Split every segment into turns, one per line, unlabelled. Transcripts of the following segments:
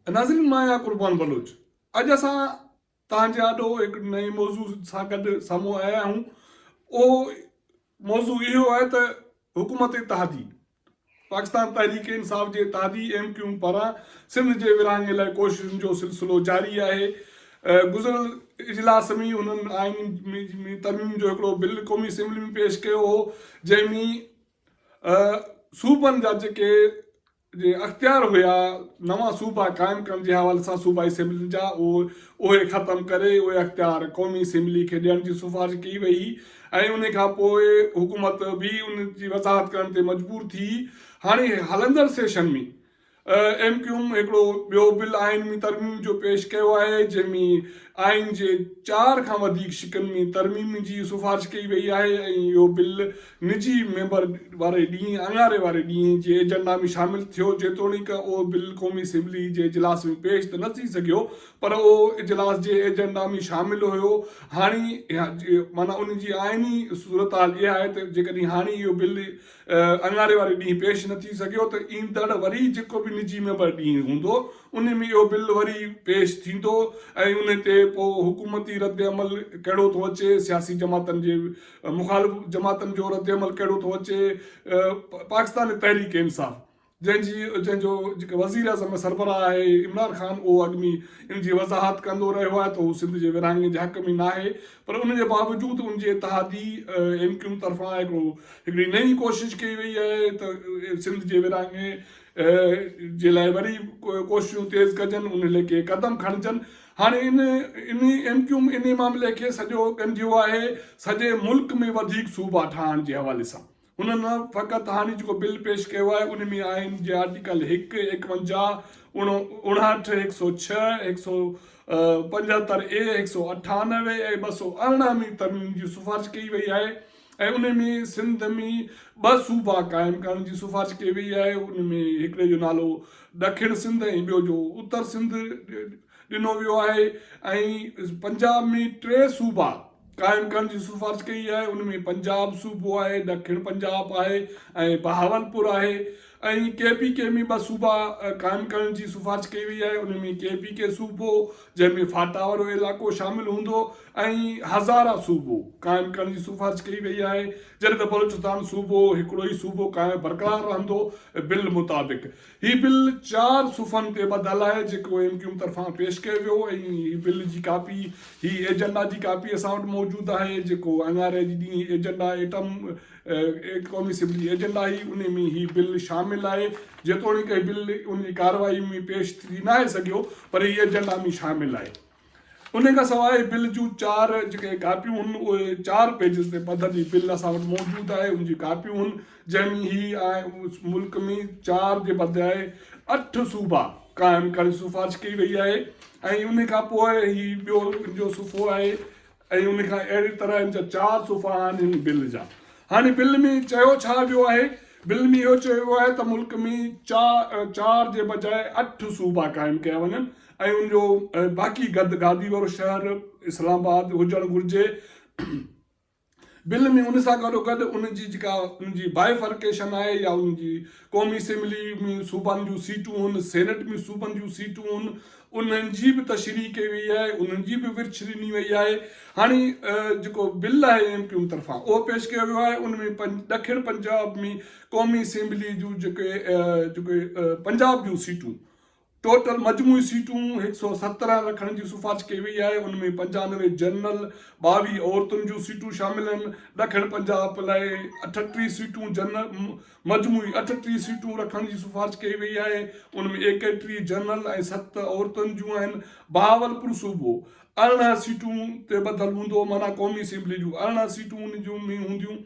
ناظرين مان آهيان قربان بلوچ اڄ اسان توهان جي آڏو هڪ نئين موضوع سان گڏ سامهون آيا آهيون اهو موضوع اهو آهي ته حڪومت اتحادي پاڪستان تحريڪ انصاف جي اتحادي ايم ڪيون پاران سنڌ جي ورهاڱي لاء ڪوششن جو سلسلو جاري آهي گذريل اجلاس ۾ هنن آئين ۾ ترميم جو هڪڙو بل قومي اسيمبلي ۾ پيش ڪيو هو جنهن ۾ صوبن جا جيڪي جي اختيار هيا نوان صوبا قائم ڪرڻ جي حوالي سان صوبائي اسيمبلين جا اهي ختم ڪري اهي اختيار قومي اسيمبلي کي ڏيڻ جي سفارش ڪئي وئي هئي ۽ ان کان پوء حڪومت به ان جي وضاحت ڪرڻ تي مجبور ٿي هاڻي هلندڙ سيشن ۾ ايم ڪيو ايم هڪڙو ٻيو بل آئين ۾ ترميم جو پيش ڪيو آهي جنهن ۾ آئين جي چار کان وڌيڪ شقن ۾ ترميم جي سفارش ڪئي وئي آهي ۽ اهو بل نجي ميمبر واري ڏينهن اڱاري واري ڏينهن جي ايجنڊا ۾ شامل ٿيو، جيتوڻيڪ اهو بل قومي اسيمبلي جي اجلاس ۾ پيش ته نه ٿي سگهيو پر اهو اجلاس جي ايجنڊا ۾ شامل هيو، هاڻي معنيٰ ان جي آئيني صورتحال اها آهي ته جيڪڏهن هاڻي اهو بل اڱاري واري ڏينهن پيش نه ٿي سگهيو ته ايندڙ وري جيڪو به نجي ميمبر ڏينهن هوندو ان ۾ اهو بل وري پيش ٿيندو ۽ ان تي پوء حڪومتي ردعمل ڪهڙو ٿو اچي، سياسي جماعتن جي مخالف جماعتن جو رد عمل ڪهڙو ٿو اچي، پاڪستان تحريڪ انصاف جنهن جي جنهن جو جيڪو وزيراعظم ۾ سربراهه آهي عمران خان اهو اڳ ۾ ان جي وضاحت ڪندو رهيو آهي ته هو سنڌ جي ورهاڱي جي حق ۾ ناهي پر ان جي باوجود ان جي اتحادي ايم ڪيو طرفان هڪڙو هڪڙي نئين ڪوشش ڪئي وئي آهي ته سنڌ جي ورهاڱي جي لاء وري ڪوششون تيز ڪجن ان ليکي قدم کڻجن هاڻي ان انهي ايم ڪيو ايم انهي معاملي کي سڄو ڳنڍيو آهي سڄي ملڪ ۾ وڌيڪ صوبا ٺاهڻ جي حوالي سان هنن نه فقط هاڻي جيڪو بل پيش ڪيو آهي ان ۾ آئين جي آرٽيڪل هڪ، ايڪونجاهه، اڻهٺ، هڪ سؤ ڇهه، هڪ سؤ پنجهتر اي، هڪ سؤ اٺانوي ۽ ٻه سؤ ارڙهن ۾ ترميم جي سفارش ڪئي وئي آهي. ۽ ان ۾ سنڌ ۾ ٻه صوبا قائم ڪرڻ جي سفارش ڪئي وئي آهي ان ۾ هڪڙي جو نالو ڏکڻ سنڌ ۽ ٻيو جو اتر سنڌ ڏنو ويو آهي ۽ پنجاب ۾ ٽي صوبا قائم ڪرڻ جي سفارش ڪئي آهي ان ۾ پنجاب صوبو آهي ڏکڻ پنجاب آهي ۽ بهاولپور آهي ۽ ڪي پي ڪي ۾ ٻه صوبا قائم ڪرڻ جي سفارش ڪئي وئي آهي ان ۾ ڪي پي ڪي صوبو جنهن ۾ فاٽا وارو علائقو شامل هوندو ۽ هزاره صوبو قائم ڪرڻ جي سفارش ڪئي وئي آهي جڏهن ته بلوچستان صوبو هڪڙو ئي صوبو قائم برقرار رهندو بل مطابق هي بل چار صفحن تي ٻڌل آهي جيڪو ايم ڪيو ايم طرفان پيش ڪيو ويو ۽ هي بل جي ڪاپي هي ايجنڊا جي ڪاپي اسان وٽ موجود آهي جيڪو اين آر اي جي ڏينهن هي ايجنڊا ايٽم قومي اسيمبلي ايجنڊا هي ان ۾ هي بل شامل آهي جيتوڻيڪ هي بل ان جي ڪارروائي ۾ پيش ٿي ناهي سگهيو پر هي ايجنڊا ۾ شامل آهي انهيء کان سواء بل جون چار جيڪي ڪاپيون هن اهي چار پيجز تي پڌر جي بل اسان وٽ موجود آهي ان جي ڪاپيون هن جنهن ۾ هي ملڪ ۾ چار جي بدراء اٺ صوبا قائم ڪرڻ جي سفارش ڪئي وئي آهي ۽ انهيء کان پوء هي ٻيو ان جو صفحو آهي ۽ ان کان اهڙي طرح ان جا چار صفحا آهن هن بل جا. هاڻي بل ۾ چيو ڇا ويو آهي؟ بل ۾ اهو چيو ويو آهي ته ملڪ ۾ چار جي بجاء اٺ صوبا قائم ڪيا وڃن ۽ ان جو باقي گد گادي وارو شهر اسلام آباد هجڻ گهرجي. بل ۾ ان سان گڏوگڏ ان جي جيڪا ان جي بائيفرڪيشن آهي يا ان جي قومي اسيمبلي ۾ صوبن جون سيٽون هن، سينيٽ ۾ صوبن جون سيٽون هن، انهن جي به تشريح ڪئي وئي آهي، انهن جي به ورڇ ڏني وئي آهي. هاڻي جيڪو بل آهي ايم ڪيو ايم طرفان اهو پيش ڪيو ويو آهي ان ۾ ڏکڻ پنجاب ۾ قومي اسيمبلي جون جيڪي پنجاب جون سيٽون ٽوٽل مجموعي سيٽون هڪ سؤ سترهن رکڻ جي سفارش ڪئي وئي آهي، ان ۾ پنجانوي جنرل، ٻاويهه عورتن جون سيٽون شامل آهن، ڏکڻ پنجاب پ لاء اٺٽيهه سيٽون جنرل م مجموعي اٺٽيهه سيٽون رکڻ جي سفارش ڪئي وئي آهي، ان ۾ ايڪيٽيهه جنرل ۽ ست عورتن جون آهن، بهاولپور صوبو ارڙهن سيٽون تي ٻڌل هوندو معنيٰ قومي اسيمبلي جون ارڙهن سيٽون ان جون ۾ هونديون.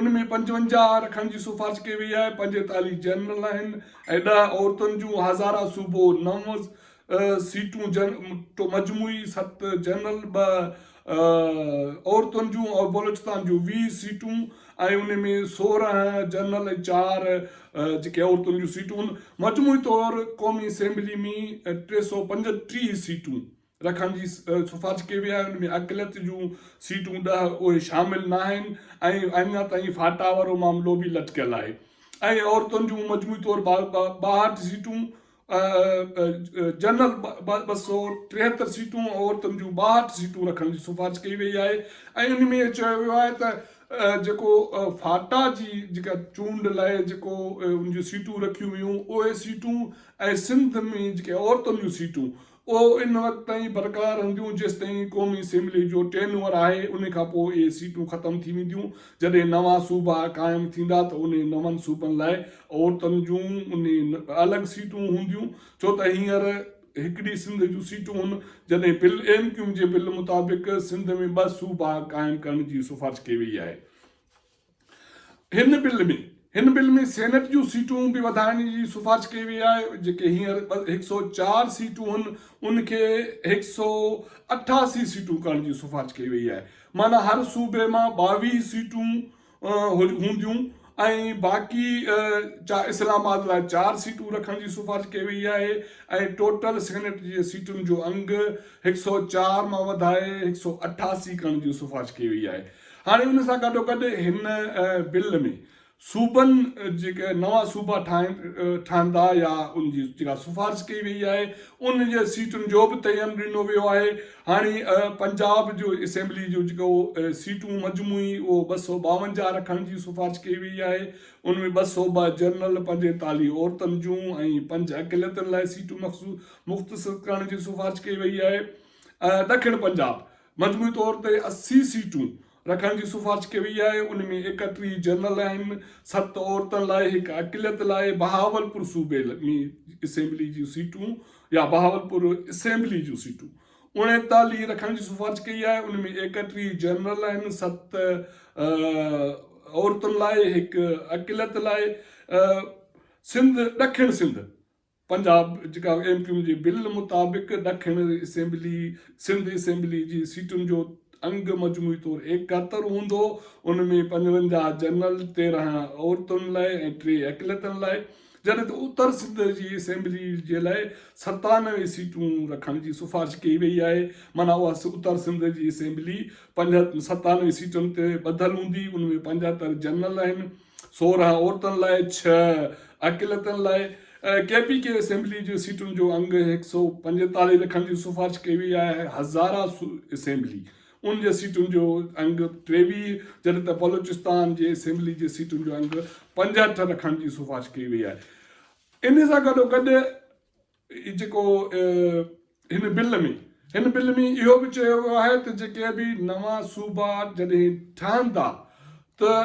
ان ۾ پنجونجاهه رکڻ جي سفارش ڪئي وئي آهي، پنجيتاليهه جنرل آهن ۽ ڏهه عورتن جون، هزاره صوبو نو سيٽون جنرل، مجموعي ست جنرل، ٻه عورتن جون ۽ بلوچستان جون ويهه سيٽون ۽ ان ۾ سورهن جنرل ۽ چار جيڪي عورتن جون سيٽون هن مجموعي طور قومي اسيمبلي ۾ ٽي سؤ پنجٽيهه سيٽون. رکڻ جي سفارش ڪئي وئي آهي ان ۾ اقليت جون سيٽون ڏهه اهي شامل ناهن ۽ اڃا تائين فاٽا وارو معاملو به لٽڪيل آهي ۽ عورتن جون مجموعي طور ٻاهٺ سيٽون جنرل ٻه سؤ ٽيهتر سيٽون عورتن جون ٻاهٺ سيٽون رکڻ جي سفارش ڪئي وئي آهي ۽ ان ۾ چيو ويو آهي ته جيڪو فاٽا جي جيڪا چونڊ لاء جيڪو ان جون سيٽون رکيون ويون اهي سيٽون ۽ سنڌ ۾ جيڪي عورتن جون سيٽون اهو ان وقت تائين برقرار رهنديون جيستائين قومي اسيمبلي جو ٽينوئر آهي ان کان پوء اهي سيٽون ختم ٿي وينديون جڏهن نوان صوبا قائم ٿيندا ته انهن نون صوبن لاء عورتن جون الڳ سيٽون هونديون ڇو ته هينئر هڪڙي سنڌ جون سيٽون هن جڏهن بل ايم ڪيوم جي بل مطابق سنڌ ۾ ٻه صوبا قائم ڪرڻ جي سفارش ڪئي وئي آهي. هن بل ۾ هن بل ۾ سينيٽ جون سيٽون به وڌائڻ جي سفارش ڪئي وئي آهي جيڪي هينئر هڪ سؤ چار سيٽون هن ان کي هڪ سؤ اٺاسي سيٽون ڪرڻ جي سفارش ڪئي وئي آهي معنيٰ هر صوبي مان ٻاويهه سيٽون هونديون ۽ باقي اسلام آباد لاء چار سيٽون رکڻ جي سفارش ڪئي وئي آهي ۽ ٽوٽل سينيٽ جي سيٽن جو انگ هڪ سؤ چار مان وڌائي هڪ سؤ اٺاسي ڪرڻ جي سفارش ڪئي وئي آهي هاڻي ان سان گڏوگڏ هن بل ۾ صوبن جيڪي نوان صوبا ٺهندا يا ان جي جيڪا سفارش ڪئي وئي آهي ان جي سيٽن جو به تعين ڏنو ويو آهي هاڻي پنجاب جو اسيمبلي جو جيڪو سيٽون مجموعي اهو ٻه سؤ ٻاونجاهه رکڻ جي سفارش ڪئي وئي آهي ان ۾ ٻه سؤ ٻه جنرل پنجيتاليهه عورتن جون ۽ پنج اقليتن لاء سيٽون مخصوص مختصر ڪرڻ جي سفارش ڪئي وئي آهي ڏکڻ پنجاب مجموعي طور تي اسي سيٽون رکڻ جي سفارش ڪئي وئي آهي، ان ۾ ايڪٽري جنرل آهن، ست عورتن لاء، هڪ اقليت لاء، بهاولپور صوبي ۾ اسيمبلي جون سيٽون يا بهاولپور اسيمبلي جون سيٽون اڻيتاليهه رکڻ جي سفارش ڪئي آهي، ان ۾ ايڪٽري جنرل آهن، ست عورتن لاء، هڪ اقليت لاء، سنڌ، ڏکڻ سنڌ، پنجاب جيڪا ايم ڪيو ايم جي بل مطابق ڏکڻ اسيمبلي سنڌ اسيمبلي جي سيٽن جو انگ مجموعي طور ايڪهتر هوندو ان ۾ پنجونجاهه جنرل تيرهن عورتن لاء ۽ ٽي اقليتن لاء جڏهن ته اتر سنڌ جي اسيمبلي جي لاء ستانوي سيٽون رکڻ جي سفارش ڪئي وئي آهي معنيٰ اها اتر سنڌ جي اسيمبلي ستانوي سيٽن تي ٻڌل هوندي ان ۾ پنجهتر جنرل آهن سورهن عورتن لاء، ڇهه اقليتن لاء ڪي پي ڪي اسيمبلي جي سيٽن جو انگ هڪ سؤ پنجيتاليهه رکڻ جي سفارش ڪئي وئي آهي، هزاره اسيمبلي ان جي سيٽن جو انگ ٽيويهه جڏهن ته بلوچستان جي اسيمبلي جي سيٽن جو انگ پنجهٺ رکڻ جي سفارش ڪئي وئي آهي، ان سان گڏوگڏ هي جيڪو هن بل ۾ هن بل ۾ اهو به چيو ويو آهي ته جيڪي به نوان صوبا جڏهن ٺهن ٿا ته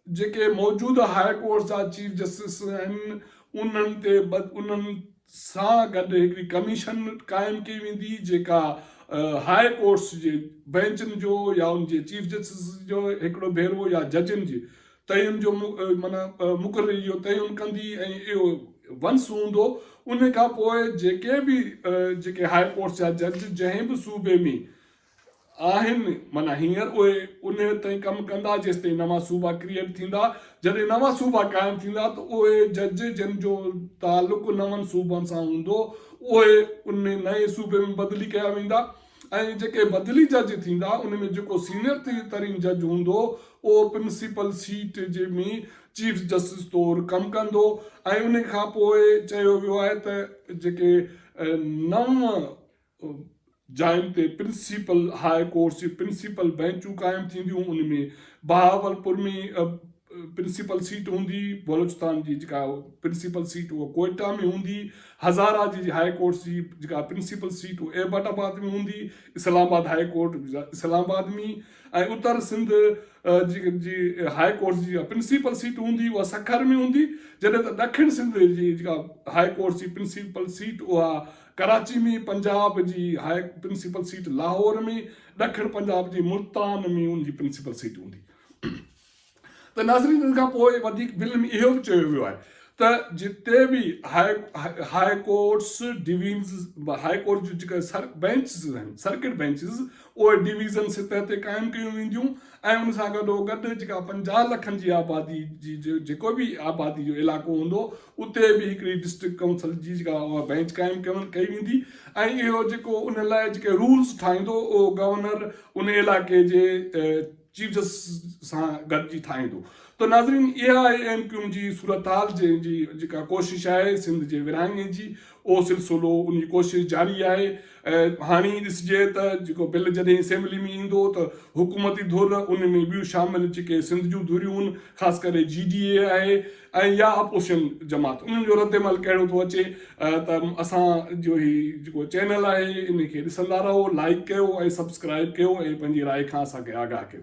جيڪي موجوده هاء ڪورٽس جا چيف جسٽس آهن انهن تي انهن سان گڏ هڪڙي ڪميشن قائم ڪئي ويندي جيڪا هاء ڪورٽس جي بئنچن جو يا ان جي چيف جسٽس جو هڪڙو ڀيرو يا ججن جي تعين جو معنيٰ مقرري جو تعين ڪندي ۽ اهو ونس هوندو ان کان پوء جيڪي به جيڪي هاء ڪورٽس جا جج جنهن به صوبي ۾ آهن معنيٰ هينئر اهي انهيء تائين ڪم ڪندا جيستائين نوان صوبا ڪريئيٽ ٿيندا جڏهن نوان صوبا قائم ٿيندا ته اهي جج جن جو تعلق نون صوبن سان هوندو اهي ان نئين صوبي ۾ بدلي ڪيا ويندا ۽ جيڪي بدلي جج ٿيندا ان ۾ جيڪو سينئر ترين جج هوندو اهو پرنسپل سيٽ جي ۾ چيف جسٽس طور ڪم ڪندو ۽ ان کان پوء چيو ويو آهي ته جيڪي نو جاين تي پرنسپل هاء ڪورٽس جي پرنسپل بئنچون قائم ٿينديون ان ۾ بهاولپور ۾ پرنسپل سيٽ هوندي بلوچستان جي جيڪا پرنسپل سيٽ اها ڪوئيٽا ۾ هوندي هزاره جي جي هاء ڪورٽس جي جيڪا پرنسپل سيٽ اها ايبٽ آباد ۾ هوندي اسلام آباد هاء ڪورٽ اسلام آباد ۾ ۽ اتر سنڌ جي جي هاء ڪورٽس جي پرنسپل سيٽ هوندي اها سکر ۾ هوندي جڏهن ته ڏکڻ سنڌ جي جيڪا هاء ڪورٽس جي پرنسپل سيٽ اها ڪراچي ۾ پنجاب جي هاء پرنسپل سيٽ لاهور ۾ ڏکڻ پنجاب جي ملتان ۾ ان جي پرنسپل سيٽ هوندي ته ناظرين ان کان پوء وڌيڪ بل ۾ اهو به چيو ويو آهي ته جتي به high courts divisions high court جون جيڪا بينچز آهن سرڪٽ بينچز اهي ڊويزن سطح تي قائم ڪيون وينديون ۽ ان سان گڏو گڏ جيڪا پنجاهه لکن جي آبادي جي جيڪو به آبادي جو علائقو هوندو اتي به هڪڙي ڊسٽرڪٽ ڪائونسل جي جيڪا اها بينچ قائم ڪئي ويندي ۽ اهو جيڪو ان لاء جيڪي رولز ٺاهيندو اهو گورنر ان علائقي جي چيف جسٽس سان گڏجي ٺاهيندو ته ناظرين اها اي ايم ڪيو جي صورتحال جنهن جي جيڪا ڪوشش آهي سنڌ جي ورهاڱي جي اهو سلسلو ان جي ڪوشش جاري آهي هاڻي ڏسجي ته جيڪو بل جڏهن اسيمبلي ۾ ايندو ته حڪومتي ڌر ان ۾ ٻيون شامل جيڪي سنڌ جون ڌريون خاص ڪري جي ڊي اي آهي ۽ يا اپوزيشن جماعت انهن جو رد عمل ڪهڙو ٿو اچي ته اسان جو هي جيڪو چينل آهي ان کي ڏسندا رهو لائڪ ڪيو ۽ سبسڪرائب ڪيو ۽ پنهنجي راء کان اسان کي آگاهه ڪيو.